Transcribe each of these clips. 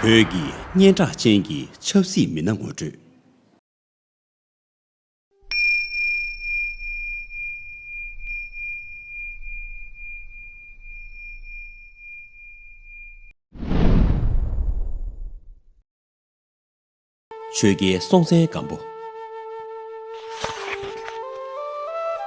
བོད་ཀྱི་སྙན་གྲགས་ཅན་གྱི་ཆབ་སྲིད་མི་སྣ་ངོ་སྤྲོད། ཆོས་རྒྱལ་སྲོང་བཙན་སྒམ་པོ།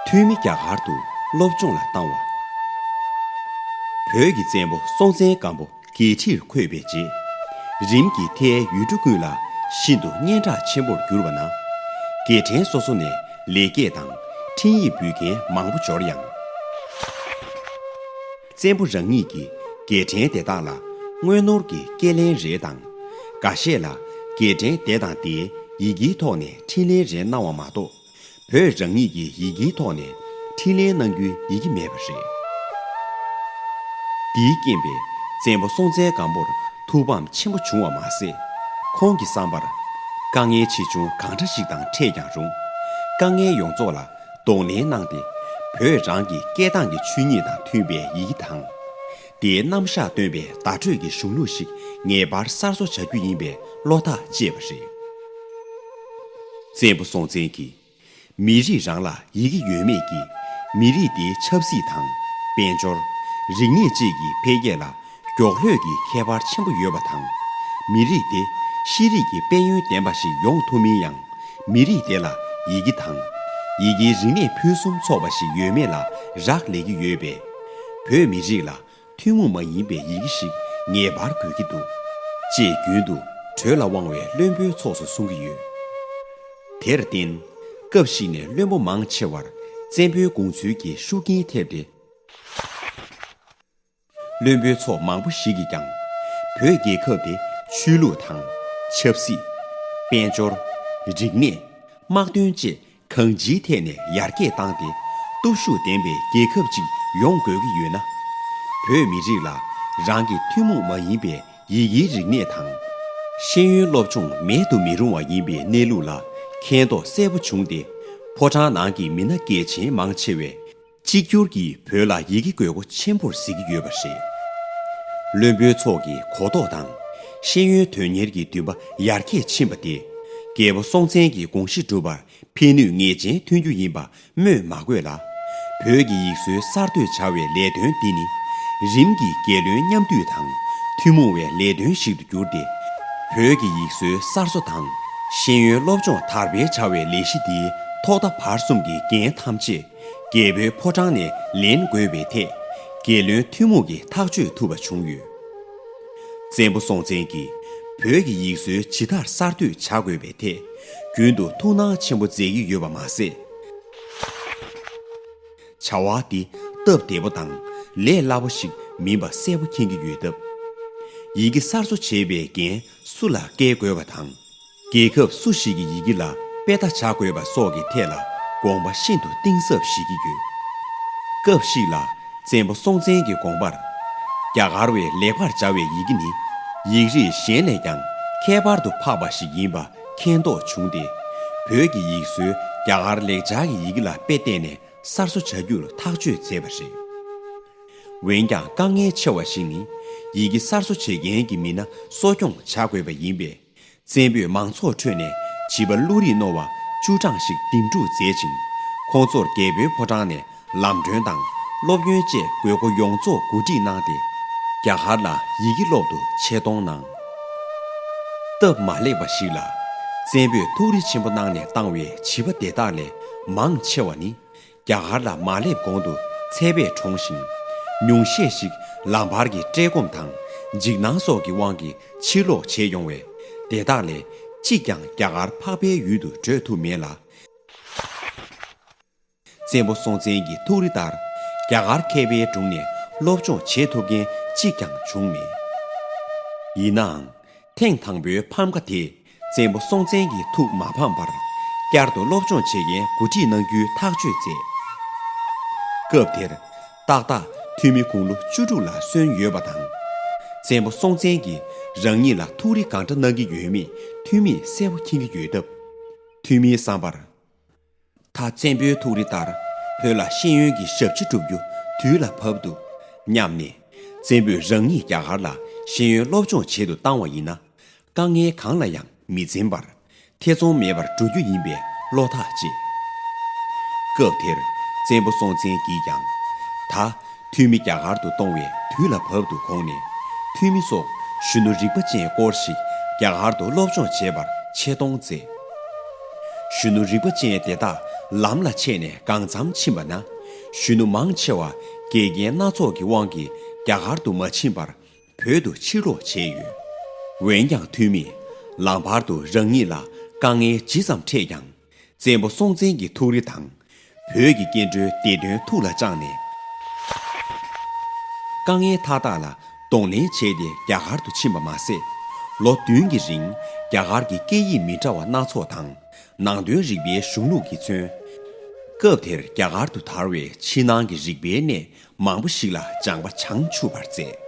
འཐུས་མི་རྒྱ་གར་དུ་སློབ་སྦྱོང་ལ་བཏང་བ། བོད་ཀྱི་བཙན་པོ་སྲོང་བཙན་སྒམ་པོ་རྒྱལ་ཁྲིར་འཁོད་པའི་རྗེས་རིམ་གྱིས་མཐའི་ཡུལ་གྲུ་ཀུན་ལ་ཤིན་ཏུ་སྙན་གྲགས་ཆེན་པོར་གྱུར་བ་ན། རྒྱལ་ཕྲན་སོ་སོ་ནས་ལེགས་སྐྱེས་དང་འཕྲིན་ཡིག་འབུལ་མཁན་མང་པོ་འབྱོར་ཡང། བཙན་པོ་རང་ཉིད་ཀྱིས་རྒྱལ་ཕྲན་དེ་དག་ལ་དངོས་ནོར་གྱི་སྐད་ལན་རེ་དང། འགའ་ཤས་ལ་རྒྱལ་ཕྲན་དེ་དང་དེའི་ཡི་གེའི་ཐོག་ནས་འཕྲིན་ལན་རེ་གནང་བ་མ་གཏོགས། བོད་རང་ཉིད་ཀྱི་ཡི་གེའི་ཐོག་ནས་འཕྲིན་ལན་གནང་རྒྱུའི་ཡི་གེ་མེད་པ་རེད། འདིའི་རྐྱེན་པས་བཙན་པོ་སྲོང་བཙན་སྒམ་པོར་ཐུགས་ཕམ་ཆེན་པོ་བྱུང་བ་མ་ཟད། ཁོང་གི་བསམ་པར། དཀའ་ངལ་ཆེ་ཆུང་གང་འདྲ་ཞིག་དང་འཕྲད་ཀྱང་རུང། དཀའ་ངལ་ཡོངས་རྫོགས་ལ་གདོང་ལེན་གནང་སྟེ་བོད་རང་གི་སྐད་གདངས་ཀྱི་ཆོས་ཉིད་དང་མཐུན་པའི་ཡི་གེ་དང། དེའི་རྣམ་གཞག་སྟོན་པའི་བརྡ་སྤྲོད་ཀྱི་གཞུང་ལུགས་ཤིག་ངེས་པར་གསར་བཟོ་བྱ་རྒྱུ་ཡིན་པའི་བློ་ཐག་བཅད་པ་རེད། བཙན་པོ་སྲོང་བཙན་གྱིས། མི་རིགས་རང་ལ་ཡི་གེ་ཡོད་མེད་ཀྱིས། མི་རིགས་དེའི་ཆབ་སྲིད་དང། དཔལ་འབྱོར། རིག་གནས་བཅས་ཀྱི་འཕེལ་རྒྱས་ལ་མགྱོགས་ལྷོད་ཀྱི་ཁྱད་པར་ཆེན་པོ་ཡོད་པ་དང། མི་རིགས་དེ་ཤེས་རིག་གི་དཔལ་ཡོན་ལྡན་པ་ཞིག་ཡོང་ཐུབ་མིན་ཡང་མི་རིགས་དེ་ལ་ཡི་གེ་དང། ཡི་གེའི་རིག་གནས་ཕུན་སུམ་ཚོགས་པ་ཞིག་ཡོད་མེད་ལ་རག་ལས་ཀྱི་ཡོད་པས། བོད་མི་རིགས་ལ་ཐུན་མོང་མ་ཡིན་པའི་ཡི་གེ་ཞིག་ངེས་པར་དགོས་ཀྱི་འདུག་ཅེས་རྒྱུན་དུ་གྲོས་ལ་དབང་བའི་བློན་པོའི་ཚོགས་སུ་གསུང་གི་ཡོད། དེར་བརྟེན། སྐབས་ཤིག་ནས་བློན་པོ་མང་ཆེ་བར་བཙན་པོའི་དགོངས་ཚུལ་གྱི་ཤུགས་རྐྱེན་ཐེབས་ཏེ། བློན་པོའི་ཚོགས་མང་པོ་ཞིག་གིས་ཀྱང། བོད་རྒྱལ་ཁབ་དེ་ཆོས་ལུགས་དང། ཆབ་སྲིད། དཔལ་འབྱོར། རིག་གནས། དམག་དོན་བཅས་གང་ཅིའི་ཐད་ནས་ཡར་རྒྱས་བཏང་སྟེ། སྟོབས་ཤུགས་ལྡན་པའི་རྒྱལ་ཁབ་ཅིག་ཡོང་དགོས་ཀྱི་ཡོད་ན། བོད་མི་རིགས་ལ་རང་གི་ཐུན་མོང་མ་ཡིན་པའི་ཡི་གེའི་རིག་གནས་དང། ཤེས་ཡོན་སློབ་སྦྱོང་མེད་དུ་མི་རུང་བ་ཡིན་པའི་གནས་ལུགས་ལ་མཁྱེན་རྟོགས་གསལ་པོ་བྱུང་སྟེ། ཕོ་བྲང་ནང་གི་མི་སྣ་སྐད་ཆེན་མང་ཆེ་བས། གཅིག་གྱུར་གྱིས་བོད་ལ་ཡི་གེ་དགོས་མཁོ་ཆེན་པོར་གཟིགས་ཀྱི་ཡོད་པ་རེད། བློན་པོའི་ཚོགས་ཀྱི་གོ་རྟོགས་དང། ཤེས་ཡོན་དོན་གཉེར་གྱི་འདུན་པ་ཡར་རྒྱས་ཕྱིན་པ་དེས། རྒྱལ་པོ་སྲོང་བཙན་གྱི་དགོངས་གཞི་འགྲུབ་པར་ཕན་ནུས་ངེས་ཅན་ཐོན་རྒྱུ་ཡིན་པ་སྨོས་མ་དགོས་ལ། བོད་ཀྱི་ཡིག་སྲོལ་གསར་གཏོད་བྱ་བའི་ལས་དོན་འདི་ནི། རིམ་གྱིས་རྒྱལ་བློན་མཉམ་བསྡུས་དང་ཐུན་མོང་བའི་ལས་དོན་ཞིག་ཏུ་གྱུར་ཏེ། བོད་ཀྱི་ཡིག་སྲོལ་གསར་བཟོ་དང་ཤེས་ཡོན་སློབ་སྦྱོང་དར་སྤེལ་བྱ་བའི་ལས་གཞི་འདིའི་ཐོག་མཐའ་བར་གསུམ་གྱི་འགན་ཐམས་ཅད་རྒྱལ་པོའི་ཕོ་བྲང་ནས་ལེན་དགོས་པའི་ཐད། རྒྱལ་བློན་ཐུན་མོང་གིས་ཐག་གཅོད་ཐུབ་པ་བྱུང་ཡོད། བཙན་པོ་སྲོང་བཙན་གྱིས་བོད་ཀྱི་ཡིག་སྲོལ་ཇི་ལྟར་གསར་གཏོད་བྱ་དགོས་པའི་ཐད་རྒྱུན་དུ་ཐུགས་སྣང་ཆེན་པོ་མཛད་ཀྱི་ཡོད་པ་མ་ཟད། བྱ་བ་འདི་སྟབས་བདེ་པོ་དང་ལས་སླ་པོ་ཞིག་མིན་པ་གསལ་པོ་མཁྱེན་གྱི་ཡོད་སྟབས། ཡི་གེ་གསར་བཟོ་བྱེད་པའི་འགན་སུ་ལ་བཀལ་དགོས་པ་དང། རྒྱལ་ཁབ་སུ་ཞིག་གི་ཡི་གེ་ལ་དཔེ་ལྟ་བྱ་དགོས་པ་སོགས་ཀྱི་ཐད་ལ་དགོངས་པ་ཤིན་ཏུ་གཏིང་ཟབ་བཞེས་ཀྱི་ཡོད། སྐབས་ཤིག་ལ་བཙན་པོ་སྲོང་བཙན་གྱི་དགོངས་པར། རྒྱ་གར་བས་ལེགས་པར་སྦྱར་བའི་ཡི་གེ་ནི་ཡིག་རིགས་གཞན་ལས་ཀྱང་ཁྱད་པར་དུ་འཕགས་པ་ཞིག་ཡིན་པ་མཁྱེན་རྟོགས་བྱུང་སྟེ། བོད་ཀྱི་ཡིག་སྲོལ་རྒྱ་གར་ལེགས་སྦྱར་གྱི་ཡི་གེ་ལ་དཔེ་བལྟས་ནས་གསར་བཟོ་བྱ་རྒྱུར་ཐག་གཅོད་མཛད་པ་རེད། འོན་ཀྱང་དཀའ་ངལ་ཆེ་བ་ཞིག་ནི་ཡི་གེ་གསར་བཟོ་བྱེད་མཁན་གྱི་མི་སྣ་གསོ་སྐྱོང་བྱ་དགོས་པ་ཡིན་པས། བཙན་པོས་མང་ཚོགས་ཁྲོད་ནས་བྱིས་པ་བློ་རིག་རྣོ་བ་བཅུ་གྲངས་ཤིག་འདེམས་སྒྲུག་མཛད་ཅིང། ཁོང་ཚོར་རྒྱལ་པོའི་ཕོ་བྲང་ནས་ལམ་སྒྲོན་དང་སློབ་ཡོན་བཅས་དགོས་མཁོ་ཡོངས་རྫོགས་གོ་སྒྲིག་གནང་སྟེ། རྒྱ་གར་ལ་ཡི་གེ་སློབ་ཏུ་ཆེད་གཏོང་གནང། སྟབས་མ་ལེགས་པ་ཞིག་ལ། བཙན་པོས་ཐུགས་རེ་ཆེན་པོ་གནང་ནས་བཏང་བའི་བྱིས་པ་དེ་དག་ལས་མང་ཆེ་བ་ནི་རྒྱ་གར་ལ་མ་སླེབས་གོང་དུ་ཚལ་པས་གྲོངས་ཤིང། ཉུང་ཤས་ཤིག་ལ་བར་གྱི་བཀྲེས་སྐོམ་དང་འཇིགས་སྣང་སོགས་ཀྱི་དབང་གིས་ཕྱིར་ལོག་བྱས་ཡོང་བས། དེ་དག་ལས་གཅིག་ཀྱང་རྒྱ་གར་འཕགས་པའི་ཡུལ་དུ་བགྲོད་ཐུབ་མེད་ལ། བཙན་པོ་སྲོང་བཙན་གྱི་ཐུགས་རེ་ལྟར་རྒྱ་གར་མཁས་པའི་དྲུང་ནས་སློབ་སྦྱོང་བྱེད་ཐུབ་མཁན་གཅིག་ཀྱང་བྱུང་མེད། ཡིན་ནའང། ཐེངས་དང་པོའི་ཕམ་ཁ་དེས་བཙན་པོ་སྲོང་བཙན་གྱི་ཐུགས་མ་ཕམ་པར། བསྐྱར་དུ་སློབ་སྦྱོང་བྱེད་མཁན་འགོ་ཁྲིད་གནང་རྒྱུའི་ཐག་གཅོད་མཛད། སྐབས་དེར། ཏག་ཏག་འཐུས་མི་དགུང་ལོ་བཅུ་དྲུག་ལ་སོན་ཡོད་པ་དང། བཙན་པོ་སྲོང་བཙན་གྱིས་རང་ཉིད་ལ་ཐུགས་རེ་གང་འདྲ་གནང་གི་ཡོད་མེད་འཐུས་མིས་གསལ་བོ་མཁྱེན་གྱི་ཡོད་སྟབས། འཐུས་མིའི་བསམ་པར། ད་བཙན་པོའི་ཐུགས་རེ་ལྟར་བོད་ལ་ཤེས་ཡོན་གྱི་ཞབས་ཕྱི་སྒྲུབ་རྒྱུ་དུས་ལ་བབ་འདུག་སྙམ་ནས། བཙན་པོས་རང་ཉིད་རྒྱ་གར་ལ་ཤེས་ཡོན་སློབ་སྦྱོང་བྱེད་དུ་བཏང་བ་ཡིན་ན། དཀའ་ངལ་གང་ལ་ཡང་མི་འཛེམ་པར་ཐེ་ཚོམ་མེད་པར་འགྲོ་རྒྱུ་ཡིན་པའི་བློ་ཐག་བཅད། སྐབས་དེར་བཙན་པོ་སྲོང་བཙན་གྱིས་ཀྱང། ད་ཐུ་མི་རྒྱ་གར་དུ་གཏོང་བའི་དུས་ལ་བབ་འདུག་གོང་ནས་ཐུ་མི་སོགས་གཞོན་ནུ་རིག་པ་ཅན་སྐོར་ཞིག་རྒྱ་གར་དུ་སློབ་སྦྱོང་བྱེད་པར་ཆེད་གཏོང་མཛད། གཞོན་ནུ་རིག་པ་ཅན་དེ་དག་ལམ་ལ་ཆས་ནས་གང་འཚམ་ཕྱིན་པ་ན། གཞོན་ནུ་མང་ཆེ་བ་འགལ་རྐྱེན་སྣ་ཚོགས་ཀྱི་དབང་གིས་རྒྱ་གར་དུ་མ་ཕྱིན་པར་བོད་དུ་ཕྱིར་ལོག་བྱས་ཡོད། འོན་ཀྱང་ཐུ་མི། ལམ་བར་དུ་རང་ཉིད་ལ་དཀའ་ངལ་ཇི་ཙམ་འཕྲད་ཀྱང། བཙན་པོ་སྲོང་བཙན་གྱི་ཐུགས་རེ་དང་བོད་ཀྱི་སྐྱེ་འགྲོའི་བདེ་དོན་ཐུགས་ལ་བཅངས་ནས། དཀའ་ངལ་མཐའ་དག་ལ་གདོང་ལེན་བྱས་ཏེ་རྒྱ་གར་དུ་ཕྱིན་པ་མ་ཟད། ལོ་བདུན་གྱི་རིང་རྒྱ་གར་གྱི་སྐད་ཡིག་མི་འདྲ་བ་སྣ་ཚོགས་དང་ནང་དོན་རིག་པའི་གཞུང་ལུགས་ཀྱིས་མཚོན། སྐབས་དེར་རྒྱ་གར་དུ་དར་བའི་ཕྱི་ནང་གི་རིག་པའི་གནས་མང་པོ་ཞིག་ལ་སྦྱངས་པ་བྱང་ཆུབ་པར་མཛད།